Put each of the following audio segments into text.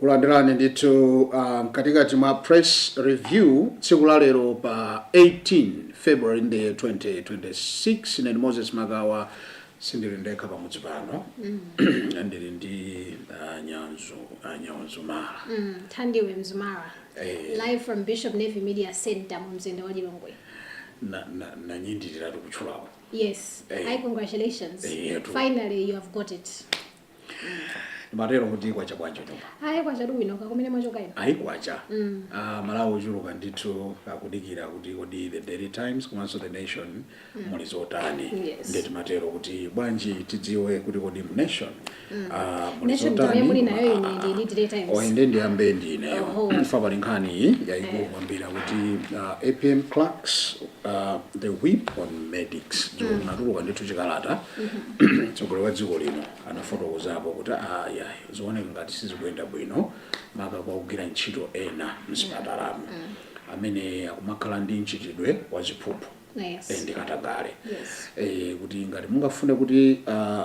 kulandirani ndithu uh, mkatikati mwa press review tsiku la lero pa 18 february ndi 2026 ned moses magawa Sindili ndekha pamudzi pano ndili ndi ah, nyanzu ah, nyanzu mara Mm, Thandiwe Mzumara. Eh. Live from Bishop Navy Media Center mu mzinda wa Lilongwe. na- na- nanyindiriratu kutchulapo Yes. Eh. Hi, congratulations. Eh, yeah, true. Finally, you have got it. Timatero kuti kwacha bwanji nyumba. Ayi kwacha bwino kaya kumene mwachoka ino. Ayi kwacha. Mm. Ah Malawi ochuluka ndithu akudikira kuti kodi the Daily Times komanso the Nation mm. muli zotani. Yes. Nde timatero kuti bwanji tidziwe kuti kodi mu Nation. Mm. Ah muli Nation zotani. Nation muli nayo ine ndi ndi Daily Times. Inde ndiyambe ndi ine. Oh. Ifa pali nkhani yayikulu eh. kwambiri kuti uh, ah, APM Cracks Uh, the whip on medics mm. anatulutsa ndithu chikalata mtsogoleri wa dziko lino anafotokozapo kuti ayi zikuoneka ngati sizikuyenda bwino maka kwa ogwira ntchito ena mzipatalamu amene akumakhala ndi mchitidwe wa ziphuphu Yes. eh, ndi katangale Yes. eh, kuti ngati mungafune kuti uh,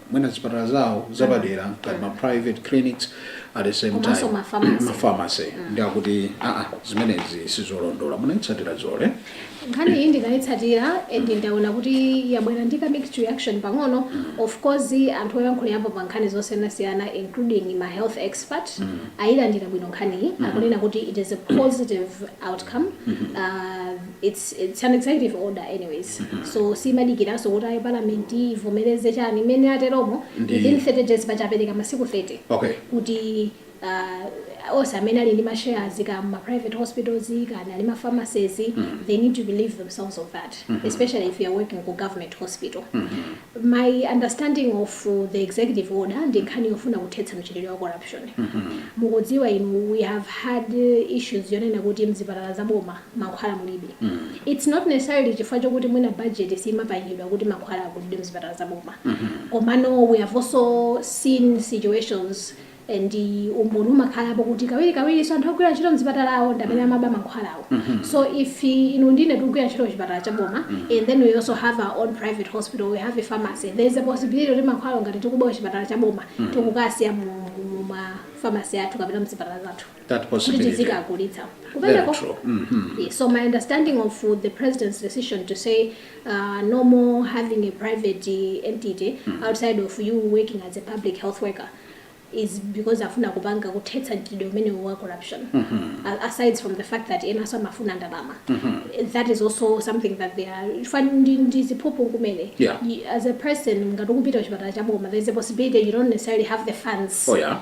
mwina zipatala zawo zapadera ngati ma private clinics at the same Komanso time ma pharmacy. ma pharmacy ndi akuti aa zimenezi sizolondola munaitsatira zedi nkhani iyi ndinayitsatira and ndaona kuti yabwera ndi ka mixed reaction pang'ono of course anthu oyankhulapo pa nkhani zosiyanasiyana including ma health expert ayilandira bwino nkhaniyi akunena kuti it is a positive outcome uh, its its an executive order anyways so siimadikiranso kuti ayi parliament ivomereze chani mmene ateromo Ndi- within 30 days paja apereka masiku 30 Okay. kuti uh, onse amene ali ndi mashares ku ma private hospitals kapena ali ndi ma pharmacies they need to relieve themselves of that especially if you are working ku government hospital my understanding of uh, the executive order ndi nkhani yofuna kuthetsa mchitidwe wa corruption mukudziwa inu we have had uh, issues yonena kuti mzipatala za boma mankhwala mulibe. Its not necessarily chifukwa chokuti mwina budget siimapangidwa kuti mankhwala agulidwe mzipatala za boma. Komano we have also seen situations and umboni umakhalapo kuti kawirikawirinso anthu ogwira ntchito mzipatalamo ndi amene amaba mankhwalawo. So if inu ndi ine tikugwira ntchito kuchipatala cha boma and then we also have our own private hospital, we have a pharmacy, there is a possibility yoti mankhwalawo ngati tikuba kuchipatala cha boma tikukasiya mu ma pharmacy athu kapena mzipatala zathu. that kuti possibility. tizikagulitsa Very kumeneko true. Mhm. Yeah, so my understanding of uh, the president's decision to say uh, no more having a private uh, entity outside of you working as a public health worker is because afuna kupanga kuthetsa mchitidwe umenewu wa corruption A- aside from the fact that enaso amafuna ndalama that is also something that they are chifukwa ndi- ndi ziphuphu kumene Yeah. Y- as a person ngati ukupita kuchipatala chaboma there is a possibility you don't necessarily have the funds Oh, yeah.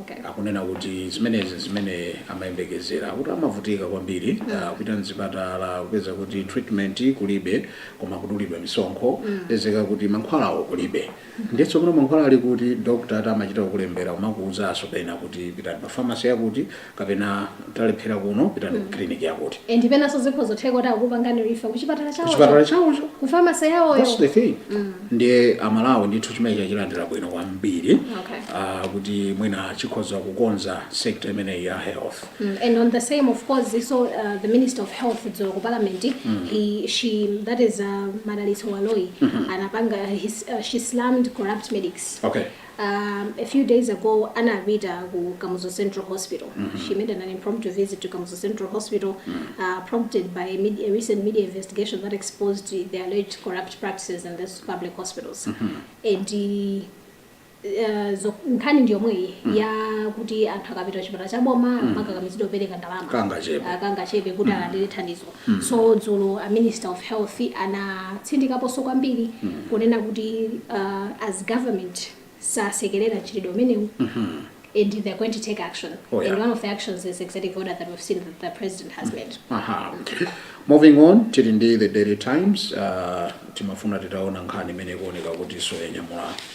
Okay. akunena kuti zimenezi zimene amayembekezera akuti amavutika kwambiri ah, kupita mzipatala kupeza kuti treatment kulibe koma kudulidwa misonkho pezeka kuti mankhwalawo kulibe ndiye tsopano mankhwala ali kuti dokta ati amachita kukulembera kumakuwuzanso pena kuti pitani pa famasi yakuti kapena talephera kuno pitani ku kiliniki yakuti and penanso zikhozotheka kuti akupangani refer kuchipatala chawo kuchipatala chawocho kufamasi yawoyo that's the thing ndiye amalawi ndithu chimenechi achilandira bwino kwambiri Okay. ah, kuti mwina chikhoza kukonza sekta imeneyi ya health Mm, and on the same, of course, so uh, the Minister of Health, dzulo ku Parliament, he, she, that is uh, Madalitso Baloyi, anapanga, his, uh, she slammed corrupt medics. okay Um, a few days ago anapita ku Kamuzu Central Hospital. Mm -hmm. She made an impromptu visit to Kamuzu Central Hospital mm -hmm. uh, prompted by a, media, a, recent media investigation that exposed the alleged corrupt practices in these public hospitals. Mm -hmm. And uh, Eh, nkhani ndi yomweyi mm. ya kuti anthu akapita kuchipatala cha boma mm. amakakamizidwa kupereka ndalama kangachepe ah, kuti mm. alandire thandizo So dzulo a minister of health anatsindikaponso kwambiri kunena kuti uh, as government sasekerera mchitidwe umenewu and they're going to take action Oh, yeah. and one of the actions is executive order that we've seen that the president has made Aha. Moving on, tili ndi the Daily Times, uh, timafuna titaona nkhani imene ikuoneka kuti soyanyamula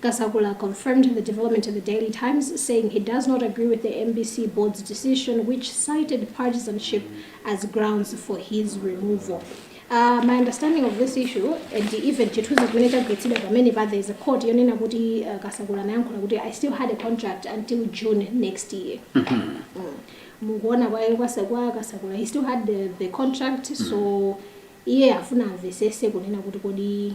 Kasakula confirmed the development to the Daily Times, saying he does not agree with the mbc board's decision which cited partisanship as grounds for his removal. Uh, my understanding of this issue and even chithunzi chimene chagwiritsidwa pamene pa there is a quote yonena kuti uh, kasakula anayankhula kuti i still had a contract until june next year mukuona kwayo kwasa- kwa kasakula he still had the, the contract so iye afuna amvetsetse kunena kuti kodi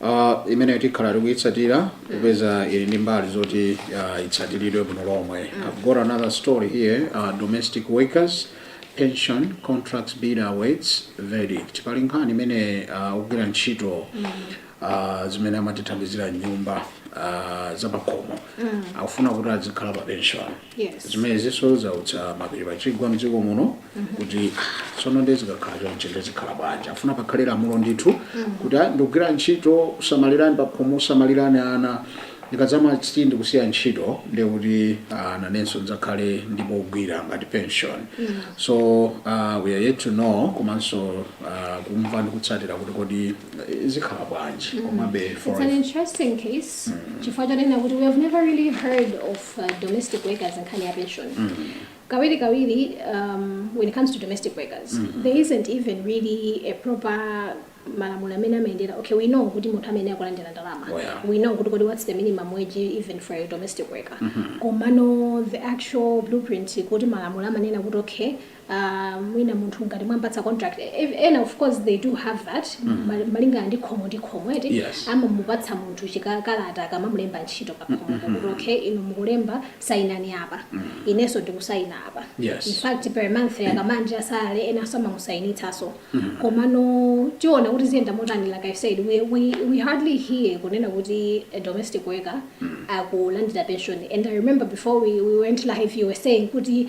Uh, imeneyo tikhala tikuyitsatira kupeza ili ndi mbali zoti uh, itsatiridwe bwino lomwe i've got another story here uh, domestic workers pension contracts bid awaits verdict pali nkhani imene uh, ogwira ntchito uh, zimene amatithandizira m'nyumba uh, zapakhomo akufuna kuti azikhala pa pension Yes. zimenezinso zautsa mapiri pachigwa mdziko muno kuti "Ah, tsono ndiye zikakhala chonchi ndiye zikhala bwanji afuna pakhale lamulo ndithu kuti "Ah, ndikugwira ntchito kusamalirani pakhomo kusamalirani ana ndikadzati ndikusiya ntchito ndiye kuti ah, nanenso ndidzakhale ndi pogwira ngati pension so uh, we are yet to know komanso uh, kumva ndi kutsatira kuti kodi eh, zikhala bwanji komabe for It's an interesting case. Chifukwa chonena kuti we have never really heard of uh, domestic workers nkhani ya pension mm. kawiri kawiri um, when it comes to domestic workers mm -hmm. there isn't even really a proper malamulo amene amayendera okay we know kuti munthu amayenera kulandira ndalama oh, yeah. we know kuti kodi what's the minimum wage even for a domestic worker mm -hmm. komano the actual blueprint kuti malamulo amanena kuti okay aah mwina munthu ngati mwampatsa contract ev ena of course they do have that ma- malingana ndi khomo ndi khomo eti Yes. amamupatsa munthu chikalata akamamulemba ntchito pa khomo kuti okay inu mukulemba sayinani apa inenso ndikusayina apa Yes. in fact per month akamalandira salary ena samamusayinitsaso komano tiona kuti ziyenda motani like i said we, we, we hardly hear kunena kuti a domestic worker akulandira pension and i remember before we, we went live you were saying kuti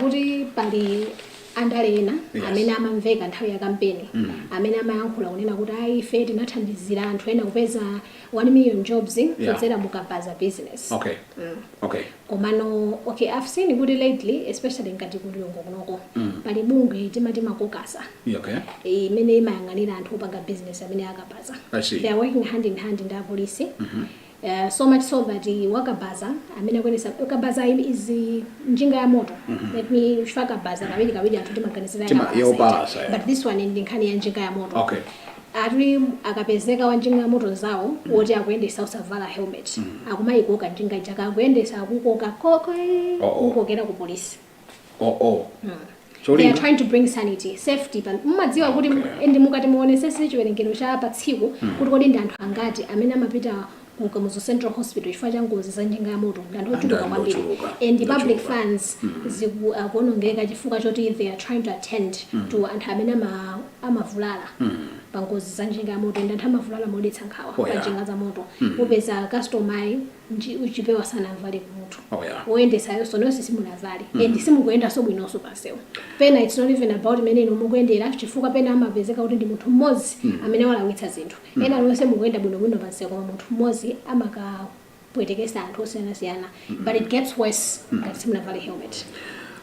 kuti pali andale ena Yes. amene amamveka nthawi ya kampeni Mm. amene amayankhula kunena kuti ayi ife tinathandizira anthu ena kupeza 1 million jobs kudzera mu kabaza business okay Mm. okay komano okay i've seen kuti lately especially ngati ku Lilongwe kunoko Mm. pali bungwe timati makokasa Yeah, okay eh, imene imayang'anira anthu opanga business amene akabaza I see. they are working hand in hand ndi apolisi eh, so much so that eh, wakabaza amene akuyendesa kabaza im- is eh, njinga ya moto let me chifukwa kabaza kawiri kawiri anthu timaganizira Tima- kabaza yopalasa, ija. yeah. but this one ndi nkhani ya njinga ya moto Okay. ati akapezeka wa njinga ya moto zawo woti akuyendesa osavala helmet akumayikoka njinga ija akuyendesa akukoka koke Oh, oh. kukokera ku polisi oh oh They are cholinga trying to bring sanity, safety. Pan- Mumadziwa kuti and mukati muonesese chiwerengero cha pa tsiku kuti kodi ndi anthu angati amene amapita ku Kamuzu Central Hospital chifukwa cha ngozi za njinga ya moto ndi anthu ochuluka Anthu kwambiri ochuluka, and the public ochuluka. funds ziku- akuonongeka chifukwa choti they are trying to attend to anthu amene ama- amavulala pa ngozi za njinga ya moto and anthu amavulala modetsa nkhawa Oh, pa yeah. njinga za moto upeza customer nji chipewa sanavale kumutu Oh, yeah. woyendetsayoso nonse simunavale and simukuyendanso bwinonso pansewu pena its not even about mmene inu mukuyendera chifukwa pena amapezeka kuti ndi munthu mmodzi amene walakwitsa zinthu ena onse mukuyenda bwinobwino pansewu koma munthu mmodzi amakapwetekesa anthu osiyanasiyana but it gets worse ngati simunavale helmet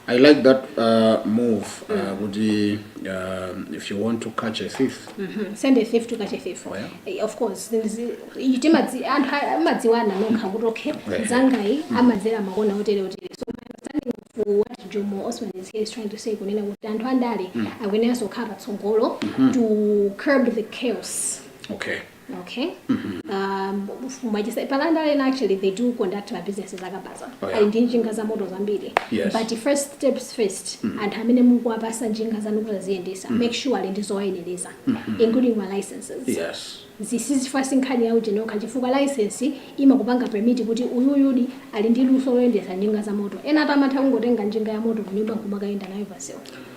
I like that uh, move uh, kuti uh, if you want to catch a thief Mhm. send a thief to catch a thief Oh, yeah? Eh, of course Zi- iyi timadzi- anthu a- amadziwana okha kuti okay Right. nzangayu amadzera makona otere otere so my understanding of what jomo osman is here is trying to say kunena kuti anthu andale akuyeneranso kukhala patsogolo to curb the chaos okay Okay. Um, mwachitsanzo ma landlord ena actually they do conduct ma business zakabaza Oh, yeah. ali ndi njinga za moto zambiri Yes. but first steps first anthu amene mukuwapasa njinga zanu kuti aziyendetsa make sure ali ndi zoyenereza including ma licenses yes zisizifasi nkhani ya utenga okha chifukwa license imakupanga permit kuti uyuyu ali ndi luso loyendetsa njinga za moto ena ati amatha kungotenga njinga ya moto kunyumba nkumakayenda nayo pamsewu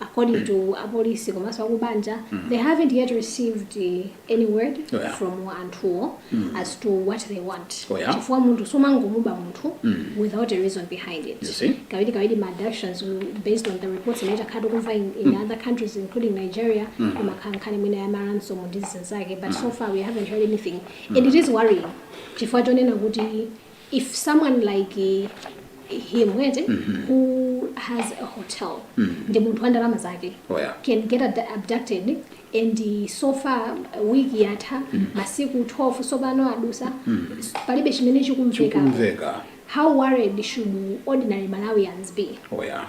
according to apolisi komanso akubanja they haven't yet received uh, any word Yeah. from anthuwo as to what they want Oh, yeah? chifukwa munthu sumangomuba munthu without a reason behind it You see? kawiri kawiri ma abductions mm, based on the reports imene takhala tikumva in, in other countries including nigeria imakhala nkhani imene ya ma ransom ndi zinthu zake but so far we haven't heard anything and it is worrying chifukwa chonena kuti if someone like uh, him ete who has a hotel ndi munthu wa ndalama zake Oh, yeah. can get ad- abducted and uh, so far uh, week yatha masiku 12 sopano adusa palibe chimene chikumveka chikumveka how worried should ordinary malawians be oh yeah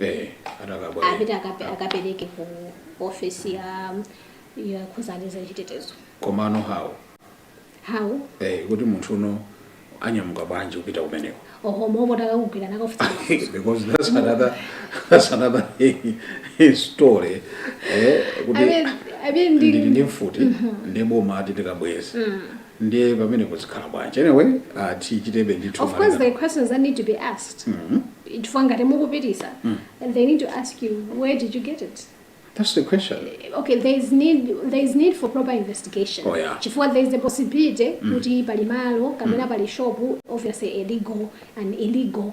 eh atakabweza apite akape- akapereke ku ofesi ya zokhudzana za chitetezo komano how how eh kuti munthu uno anyamuka bwanji kupita kumeneko oho mopanda kukugwira nakufunsa because that's another that's another story eh kuti ndili ndi mfuti ndi boma ati tikabweze nde pamenepo zikhala bwanji anyway uh, tichitebe ndithu of course there are questions that need to be asked mm -hmm. chifukwa ngati mukupitisa mm. and they need to ask you where did you get it That's the question. Okay, there is need there is need for proper investigation. Oh yeah. Chifukwa there is a possibility mm. kuti pali malo kapena mm. pali shop obviously illegal and illegal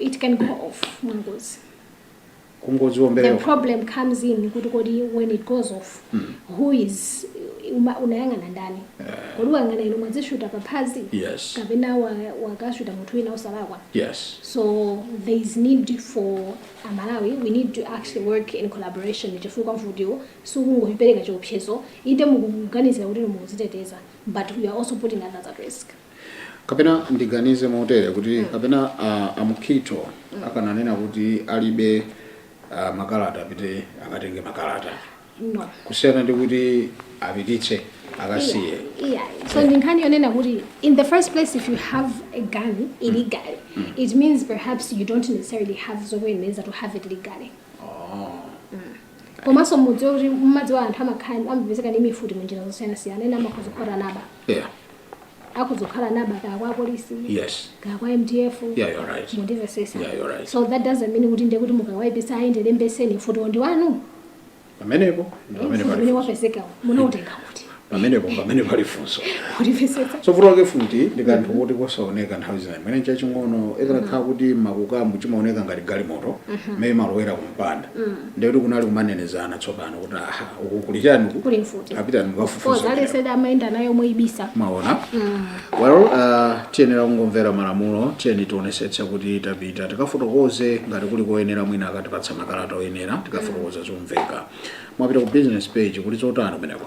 it can go off mwangozi kungodziwombera the problem comes in kuti kodi when it goes off who is uma- unayang'ana ndani kodi wayang'ana ino mwadzishuta paphazi yes kapena wa- wakashuta munthu wina osalakwa yes so there is need for amalawi we need to actually work in collaboration chifukwa vuto sikungopereka chiopsezo eti mukuganizira kuti mukudziteteza but we are also putting others at risk Kapena ndiganize motere kuti kapena a, a Mkhitho akananena kuti alibe a, makalata apite akatenge makalata no kusiyana ndi kuti apititse akasiye Yeah. So ndi nkhani yonena kuti in the first place if you have a gun illegally it means perhaps you don't necessarily have zokuyenereza to have it legally. Komanso mudziwe kuti mmadziwa anthu amakhala amapezeka ndi mfuti mu njira zosiyanasiyana ena amakhoza kukhala anaba. yeah akhoza kukhala anaba kaya kwa apolisi yes kaya kwa mdf yeah you're right mundimvetsetsa Yeah, you're right. so that doesn't mean kuti ndiye kuti mukawaipisa ayende lembeseni mfuti ndi wanu pamenepo pamene Futi pali umene wapezekawo munautenga kuti pamenepo pamene pali funso mundimvetsetsa so mfuti wake mfuti ndi kanthu kuti kosaoneka nthawi zina mwina chaching'ono ikakhala kuti mwakuti chimaoneka ngati galimoto mmene malowera kumpanda ndekuti kunali kumanenezana tsopano kuti aha uku kuli chiyani uku kuli mfuti tapita tikafufuza laser gun amayenda nayo moibisa mwaona well uh, tiyenera kungomvera malamulo tiyeni tionesetse kuti tapita tikafotokoze ngati kuli koyenera mwina akatipatsa makalata oyenera tikafotokoza zomveka mwapita ku business page kuli zotani kumeneko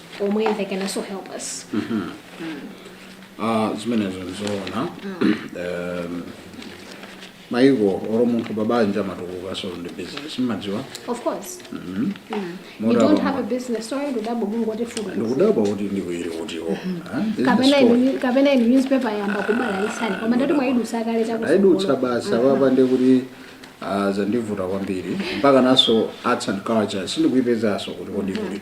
omwe they can also help us Ah, zimenezo ndizoona Em, maiko olo munthu pabanja amatukukanso ndi business mmadziwa of course mm. you don't have a business story ndikudabwa kuti ndikuiri kutiwo kapena inu- kapena inu newspaper yayamba kubalalitsani koma ndati mwayidutsa kale chakuti ndayidutsa basi apa ndekuti ah, zandivuta kwambiri mpakanso arts and culture sindikuipezanso kuti kodi kuli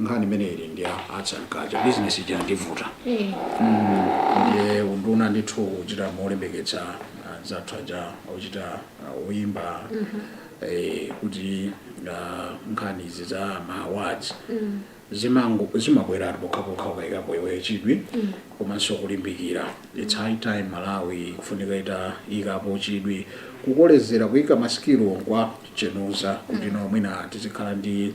nkhani imene ili ndi ya arts and culture business ija yandivuta ndiye unduna ndithu kuchita kulimbikitsa anzathu aja ochita uh, oyimba eh, kuti uh, nkhani izi za ma awards zimango- zimabweratu pokhapokha ukayikapo iwe chidwi komanso kulimbikira its high time malawi kufunika itaikapo chidwi kukolezera kuyika masikilo mkwachenuza kuti no mwina tizikhala ndi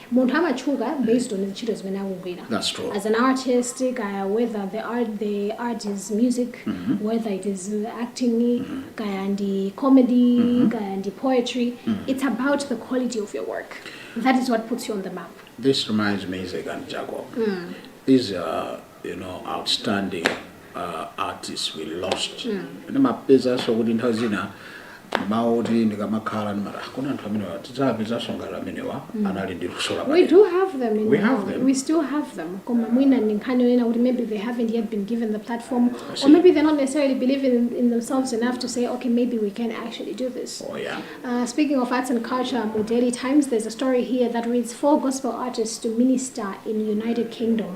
Munthu amatchuka based on ntchito zimene akugwira That's true. as an artist kaya whether the art, the art is music whether it is uh, acting kaya ndi comedy kaya ndi poetry it's about the quality of your work that is what puts you on the map This reminds me, Isaac and Jacob. These are you know, outstanding uh, artists we lost ndimapezanso kuti nthawi zina mawu oti ndikamakhala ndimati "Ah, kodi anthu amenewa tidzapezanso ngati amenewa anali ndi luso lapadera we do have them in Malawi. We have them. we still have them koma mwina ndi nkhani yonena kuti maybe they haven't yet been given the platform see. or maybe they're not necessarily believing in, in themselves enough to say okay maybe we can actually do this oh yeah Uh, speaking of arts and culture, mu Daily Times, there's a story here that reads four gospel artists to minister in United Kingdom.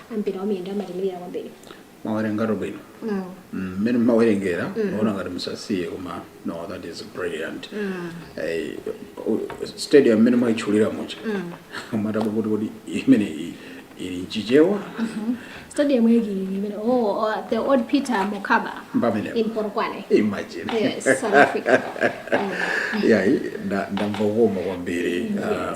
a mpira wamiyendo amatiimirira kwambiri mwawerengatu bwino mmene mm, mumawerengera mm. ndimaona ngati musasiye koma no that is brilliant mm. eh, stadium mmene mwaitchulira muja mwathawa kuti kodi imene ili mchichewa mm-hmm. stadium yake imene oh, oh the old peter mokaba in polokwane imagine yes south africa yeah ndamva kukoma kwambiri um,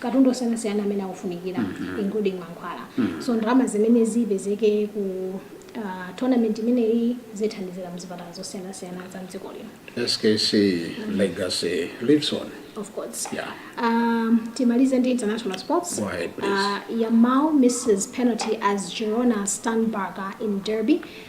katundu osiyanasiyana amene akufunikira mm -hmm. including mankhwala mm -hmm. so ndalama zimene zipezeke ku uh, tournament imeneyi zithandizira mzipatala zosiyanasiyana za mdziko lino skc mm. legacy lives on of course yeah. um, timalize ndi international sports Go ahead, please. uh, yamal misses penalty as girona stun barca in derby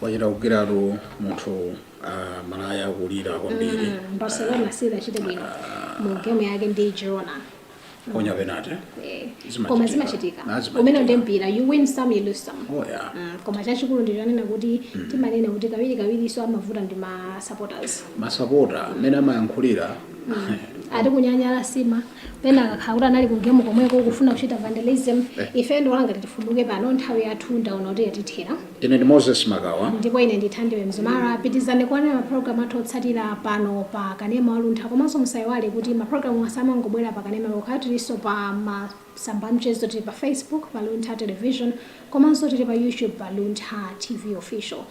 wachita kugwiratu munthu ah, malaya akulira kwambiri barcelona sinachite bwino mu game yake ndi girona waphonya penate Eh, Zimachitika. koma zimachitika Ah, zimachitika. umenewo ndi mpira you win some you lose some oh yeah Mm, koma chachikulu ndi chonena kuti timanena kuti kawirikawirinso amavuta ndi ma supporters masapota mmene amayankhulira ati kunyanyala sima pena akakhala kuti anali ku game komweko kufuna kuchita vandalism ife ndiloleni kuti tifunduke pano nthawi yathu ndaona kuti yatithera ine ndi moses makawa ndipo ine ndithandiwe mzumara pitizani kuonera mapulogalamu athu otsatira pano pa kanema waluntha komanso musayiwale kuti mapulogalamuwa samangobwera pa kanema yokha tilinso pa masamba amchezo tili pa facebook pa luntha television komanso tili pa youtube pa luntha tv official